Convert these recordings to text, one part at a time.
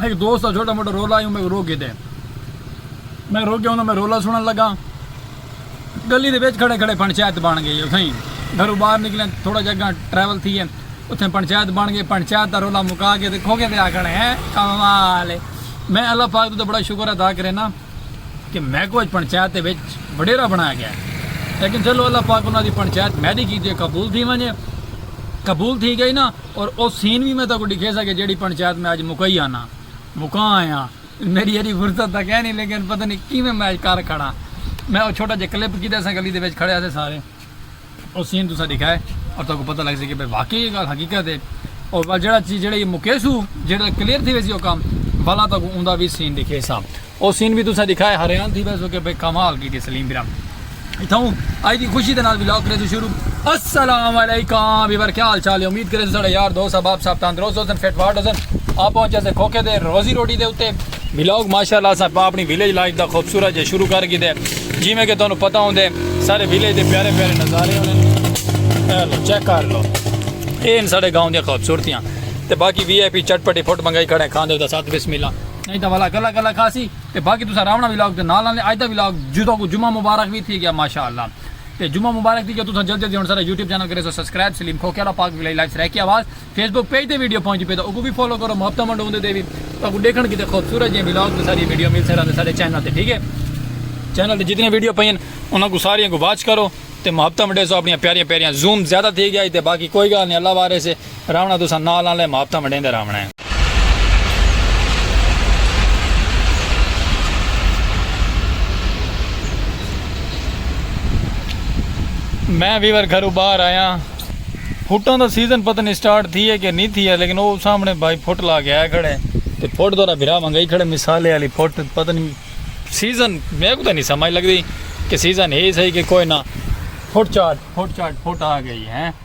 ہک دوست دا چھوٹا موٹا رولا ہیوں میں روک گھدے میں روک گیا ہوں میں رولا سنن لگا گلی دے وچ کھڑے کھڑے پنچایت بن گئی اتھائی گھروں باہر نکلے تھوڑا جا گاں ٹریول تھی ہے اتھے پنچایت بن گئی پنچایت دا رولا مکا کے دیکھو کے دے آکھنے ہیں کمال ہے میں اللہ پاک تو بڑا شکر ادا کرے نا کہ میں کو اج پنچایت دے وچ وڈیرا بنایا گیا لیکن چلو اللہ پاک انہاں دی پنچایت میری کیتی قبول تھی ونجے قبول تھی گئی نا اور او سین وی میں تہاکوں ڈکھیساں کہ جیڑھی پنچایت میں اج مکائی آناں مکاں آیاں میڈی ایڈی فرصت تاں کینی لیکن پتہ نی کیویں میں اج کر کھڑاں میں او چھوٹا جیہا کلپ کیتے اساں گلی دے وچ کھڑے ہاسے سارے او سین تساں ڈکھائے اور تہاکوں پتہ لگ سی کہ بھئی واقعی اے گالھ حقیقت اے اور ول جیڑا چیز جیڑا اے مکیسوں جیڑا کلیئر تھی ویسی او کم ولا تہاکوں اوندا وی سین ڈکھیساں۔ او سین وی تساں ڈکھائے حریان تھی ویسو کہ بھئی کمال کیتی سلیم برام اتھاؤں آئی دی خوشی دے نال ولاگ کریسو شروع السلام علیکم ویور کیا حال چال ہے امید کریسو ساڑا یار دوست احباب صاحب تندرست ہوسن فٹ فاٹ ہوسن آپ پہنچے سے کھوکھے دے روزی روٹی دے اتے ولاگ ماشاءاللہ اساں اپنی ویلیج لائف دا خوبصورت جے شروع کر گیتے جی میں کہ تانوں پتہ ہوندے سارے ویلیج دے پیارے پیارے نظارے ہوندے اے لو چیک کر لو اے ان ساڑے گاؤں دی خوبصورتیاں تے باقی وی آئی پی چٹ پٹی پھٹ منگائی کھڑے کھاندے دا ساتھ بسم اللہ نئیں تاں ولا گلا گلا کھاسی تے باقی تساں راونا ولاگ دے نال آندے اج دا ولاگ جو تہاکوں جمعہ مبارک وی تھی گیا ماشاءاللہ تے جمعہ مبارک تھی گیا تساں جلدی جلدی ہن سارا یوٹیوب چینل کریسو سبسکرائب سلیم کھوکھے والا پاک ولائی لائف سرائیکی آواز فیس بک پیج تے ویڈیو پہنچی پے تاں اوکوں وی فالو کرو محبتاں ونڈو اوندے تے وی تہاکوں ڈیکھن کیتے خوبصورت جیاں ولاگ تے ساری ویڈیو مل سارا تے سارے چینل تے ٹھیک ہے چینل تے جتنی ویڈیو پئی ہیں انہاں کو ساریاں کو واچ کرو تے محبتاں ونڈیسو اپنی پیاریاں پیاریاں زوم زیادہ تھی گیا تے باقی کوئی گال نہیں اللہ وارث ہے راونا تساں نال آلے محبتاں ونڈیندے راونا ہے۔ میں ویور گھروں باہر آیاں۔ پھٹاں دا سیزن پتہ نی سٹارٹ تھیے کہ نی تھیے لیکن او سامنے بھائی پھٹ لا کے آئے کھڑے۔ تے پھٹ تہاڈا بھرا منگائی کھڑے مثالے آلی پھٹ پتہ نی سیزن میکوں تاں نی سمجھ لگدی کہ سیزن ہے صحیح کہ کوئی نہ پھٹ چاٹ پھٹ چاٹ پھٹ آ گئی ہے۔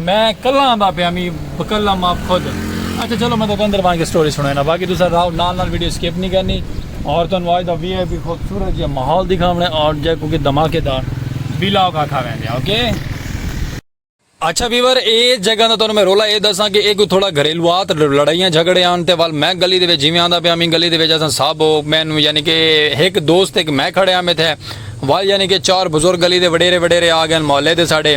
میں کلاں آندا پیا می بکلم آپ خود اچھا چلو میں تو اندر وان کے سٹوری سنانا باقی دوسرا راؤ نال نال ویڈیو سکپ نہیں کرنی اور تو انواج دا وی آئی پی خوبصورت جی ماحول دکھاونے اور جے کو کہ دھماکے دار بیلاو کا کھا ویندے اوکے اچھا ویور اے جگہ دا تو میں رولا اے دساں کہ اے کوئی تھوڑا گھریلوات لڑائیاں جھگڑے آن تے وال میں گلی دے وچ جیویں آندا پیا میں گلی دے وچ اساں سب میں یعنی کہ ایک دوست ایک میں کھڑے آ میں تھے وال یعنی کہ چار بزرگ گلی دے وڈیرے وڈیرے آ گئے محلے دے ساڈے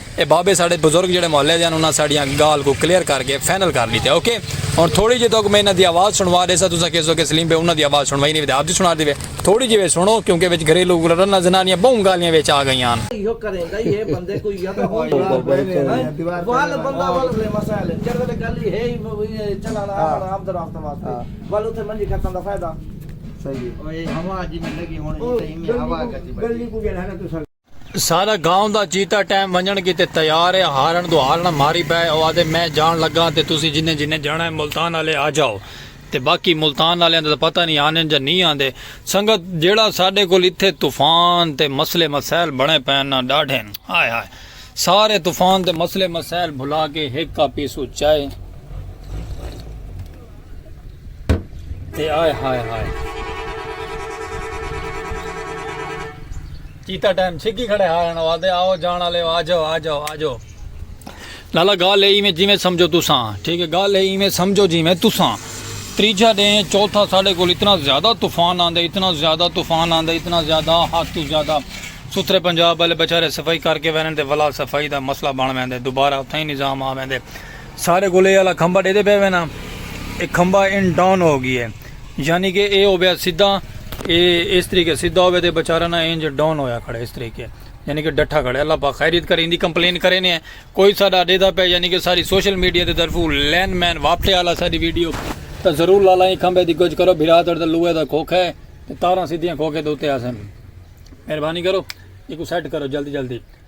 اے بابے ساڈے بزرگ جیڑھے محلے دے ہن انہاں ساڈیاں گالھ کوں کلیئر کر کے فائنل کر ڈیتے اوکے ہن تھوڑی جی توک میں انہاں دی آواز سنوا ڈیساں تساں کہسو کہ سلیم بھئی انہاں دی آواز سنوائی نہیں وی تے آپ دی سنا دیوے تھوڑی جی وچ سنو کیونکہ وچ گھریلو رناں زنانیاں بہوں گالھیاں وچ آ گئیاں ہن۔ سارا گاؤں دا چیتا ٹیم ونجنڑ کیتے تیار ہے ہارنڑ دو ہارنڑ ماری پئے او آدھے میں جان لگاں تے تسی جنیں جنیں جانڑا ہے ملتان آلے آجاؤ تے باقی ملتان آلیاں دا تاں پتہ نی آندن جاں نی آندے سنگت جیڑھا ساڈے کول اتھے طوفان تے مسلے مسائل بنڑے پئن ناں ڈاڈھین ہائے ہائے سارے طوفان تے مسلے مسائل بھلا کے ہک کپ پیسو چائے تے آئے ہائے ہائے چیتا ٹائم چھگی کھڑے ہارن او آدھے آؤ جان والے آ جاؤ آ جاؤ آ جاؤ لالا گال ہے ایویں جیویں سمجھو تساں ٹھیک ہے گال ہے ایویں سمجھو جیویں تساں تریجا دے چوتھا ساڑے کول اتنا زیادہ طوفان آندے اتنا زیادہ طوفان آندے اتنا زیادہ حد تو زیادہ ستھرے پنجاب والے بیچارے صفائی کر کے ویندے تے ولا صفائی دا مسئلہ بن ویندے دوبارہ اتھاں ہی نظام آ ویندے سارے کول اے آلا کھمبا ڈیدے پے وے نا اے کھمبا ان ڈاؤن ہو گی ہے یعنی کہ اے ہو بیا سیدھا اے اس طریقے سیدھا ہوے تے بیچارہ نا انج ڈاؤن ہویا کھڑے اس طریقے یعنی کہ ڈٹھا کھڑے اللہ پاک خیریت کرے اندی کمپلین کرے نے کوئی ساڈا ڈیدا پے یعنی کہ ساری سوشل میڈیا دے طرفو لین مین واپٹے آلا ساڈی ویڈیو تا ضرور لالا ایں کھمبے دی گج کرو بھرا تڑ تے لوہے دا کھوکھا ہے تے تاراں سیدھیاں کھوکھے دے اوتے آسن مہربانی کرو ایکو سیٹ کرو جلدی جلدی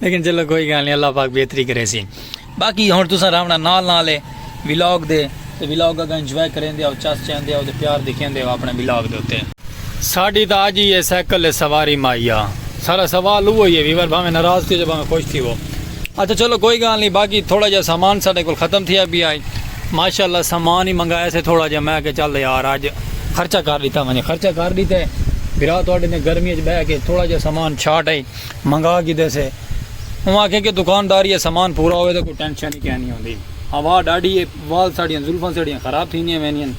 لیکن چلو کوئی گال نہیں اللہ پاک بہتری کرے سی باقی ہن تساں راونا نال نال ہے ولاگ دے تے ولاگ اگا انجوائے کریں دے او چس چین دے او تے پیار دکھیں دے او اپنے ولاگ دے تے ساڈی تا اج ہی ہے سائیکل سواری مایا سارا سوال او ہی ہے ویور بھاویں ناراض تھی جو بھاویں خوش تھی وہ اچھا چلو کوئی گال نہیں باقی تھوڑا جا سامان ساڈے کول ختم تھیا بھی آئی ماشاءاللہ سامان ہی منگایا سے تھوڑا جا میں کہ چل یار اج خرچہ کر دیتا میں خرچہ کر دیتا ہے بھرا تھوڑے نے گرمی اچ بہ کے تھوڑا جا سامان چھاٹ آئی منگا گھدے سے اوں آکھیا کہ دکانداری اچ سامان پورا ہووے تاں کوئی ٹینشن ہی کینی ہوندی ہوا ڈاڈھی اے وال ساڈیاں زلفاں ساڈیاں خراب تھیندیاں ویندین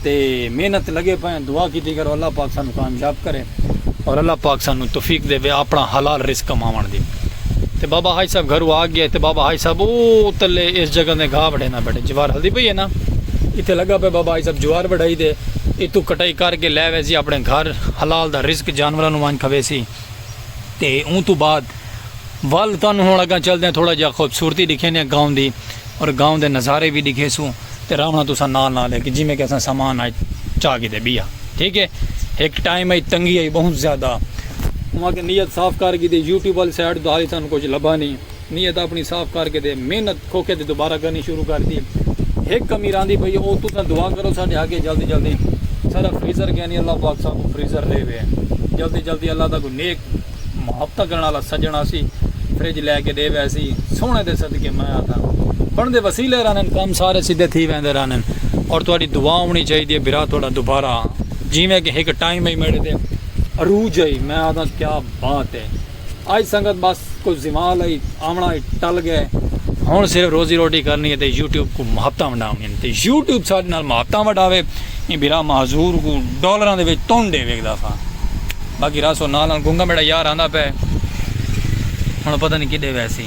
تے محنت لگے پئے ہیں دعا کیتی کرو اللہ پاک سانوں کامیاب کرے اور اللہ پاک سانوں توفیق دے اپنا حلال رزق کماون دی تے بابا حاج صاحب گھرو آ گیا تے بابا حاج صاحب او تلے اس جگہ دے گھا وڈھینا بیٹھے جوار ہلدی پئی ہے نا ایتھے لگا پے بابا حاج صاحب جوار وڈھائی دے ایتھوں کٹائی کر کے لے ویسی اپنے گھر حلال دا رزق جانوراں نو وانج کھویسی تے اوں توں بعد ول تانوں ہن اگاں چلدے آں تھوڑا جیہا خوبصورتی ڈکھیندے آں گاؤں دی اور گاؤں دے نظارے وی ڈکھیسوں تے راونا تساں نال نال ہک جیویں کہ اساں سامان اچ چا کیتے بیا ٹھیک ہے ہک ٹائم اچ تنگی آئی بہت زیادہ اواں کہ نیت صاف کر گی تے یوٹیوب والی سائیڈ تو حالی سانوں کچھ لبھا نہیں نیت اپݨی صاف کر کے تے محنت کھوکھے تے دوبارہ کرݨی شروع کر ݙتی۔ ہک امیر آندی پئی او تساں دعا کرو ساݙے حق اچ جلدی جلدی ساݙا فریزر کینی اللہ پاک اساں کوں فریزر ݙیوے۔ جلدی جلدی اللہ دا کوئی نیک محبتاں کرݨ آلا سڄݨ آسی فریج لے کے ݙے ویسی۔ سوہݨے دے صدقے میں آکھاں بݨدے وسیلے رہݨن کم سارے سدھے تھی ویندے رہݨن اور تہاݙی دعا ہوݨی چاہیدی اے بھرا تہاݙا دوبارہ جیویں کہ ہک ٹائم ائی میݙے تے عروج ائی میں آکھاں کیا بات اے۔ اج سنگت بس کوئی زوال ہئی آونا ہئی ٹل گئے ہن صرف روزی روٹی کرنی ہے تے یوٹیوب کو محبتاں ونڈاونی ہیں تے یوٹیوب ساڈے نال محبتاں وڈاوے ایں بھرا معذور کو ڈالراں دے وچ تن ڈے ویکھدا سا باقی راسو نال نال گنگا میڈا یار آندا پے ہن پتہ نہیں کڈے ویسی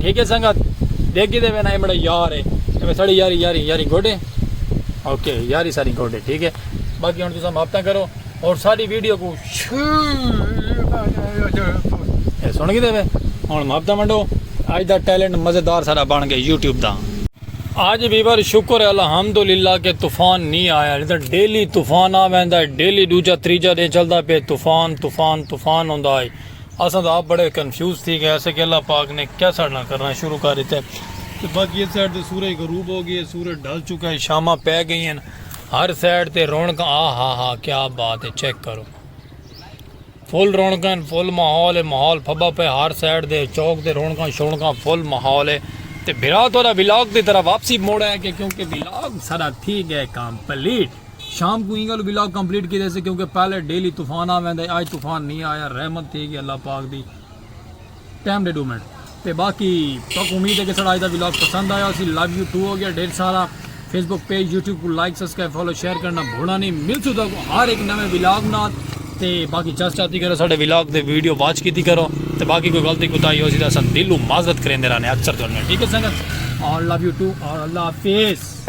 ٹھیک ہے سنگت دیکھ گی دے وینا امڑا یار ہے میں ساڑی یاری یاری یاری گوڑے اوکے یاری ساری گوڑے ٹھیک ہے باقی ہن تساں ماپتا کرو اور ساری ویڈیو کو سن گی دے وے ہن ماپتا منڈو آج دا ٹیلنٹ مزیدار سارا بن گئے یوٹیوب دا اج وی پر شکر ہے الحمدللہ کہ طوفان نی آیا نی تاں ڈیلی طوفان آ ویندا ہے ڈیلی ڈوجا تریجا ڈینہہ چلدا پئے طوفان طوفان طوفان ہوندا ہئی اساں تاں آپ بڑے کنفیوز تھی گئے اسے کہ اللہ پاک نے کیا ساڈے نال کرنا شروع کر ڈتے تے باقی اس سائیڈ تے سورج غروب ہو گئی ہے سورج ڈھل چکا ہے شاماں پے گئی ہیں ہر سائیڈ تے رونقاں آہا ہا کیا بات ہے چیک کرو فل رونقاں ہن فل ماحول ہے ماحول پھبا پئے ہر سائیڈ دے چوک تے رونقاں شونقاں فل ماحول ہے تے بھرا تہاڈا ولاگ دی طرح واپسی موڑ آیا کہ کیونکہ ولاگ سارا تھی گئے کمپلیٹ شام کو اینگل ولاگ کمپلیٹ کیتے سے کیونکہ پہلے ڈیلی طوفان آ ویندا ہے اج طوفان نہیں آیا رحمت تھی گئی اللہ پاک the time they do minute تے باقی تک امید ہے کہ سڑا اج دا ولاگ پسند آیا اسی لو یو ٹو ہو گیا ڈھیر سارا فیس بک پیج یوٹیوب کو لائک سبسکرائب فالو شیئر کرنا بھولا نہیں مل سو تک ہر ایک نویں ولاگ نال تے باقی چس چاتی کرو ساڈے ولاگ تے ویڈیو واچ کیتی کرو تے باقی کوئی غلطی کوتا ہی ہو سی تے اساں دلوں معذرت کریندے رہنے اکثر تو ٹھیک ہے سنگت اور لو یو ٹو اور اللہ حافظ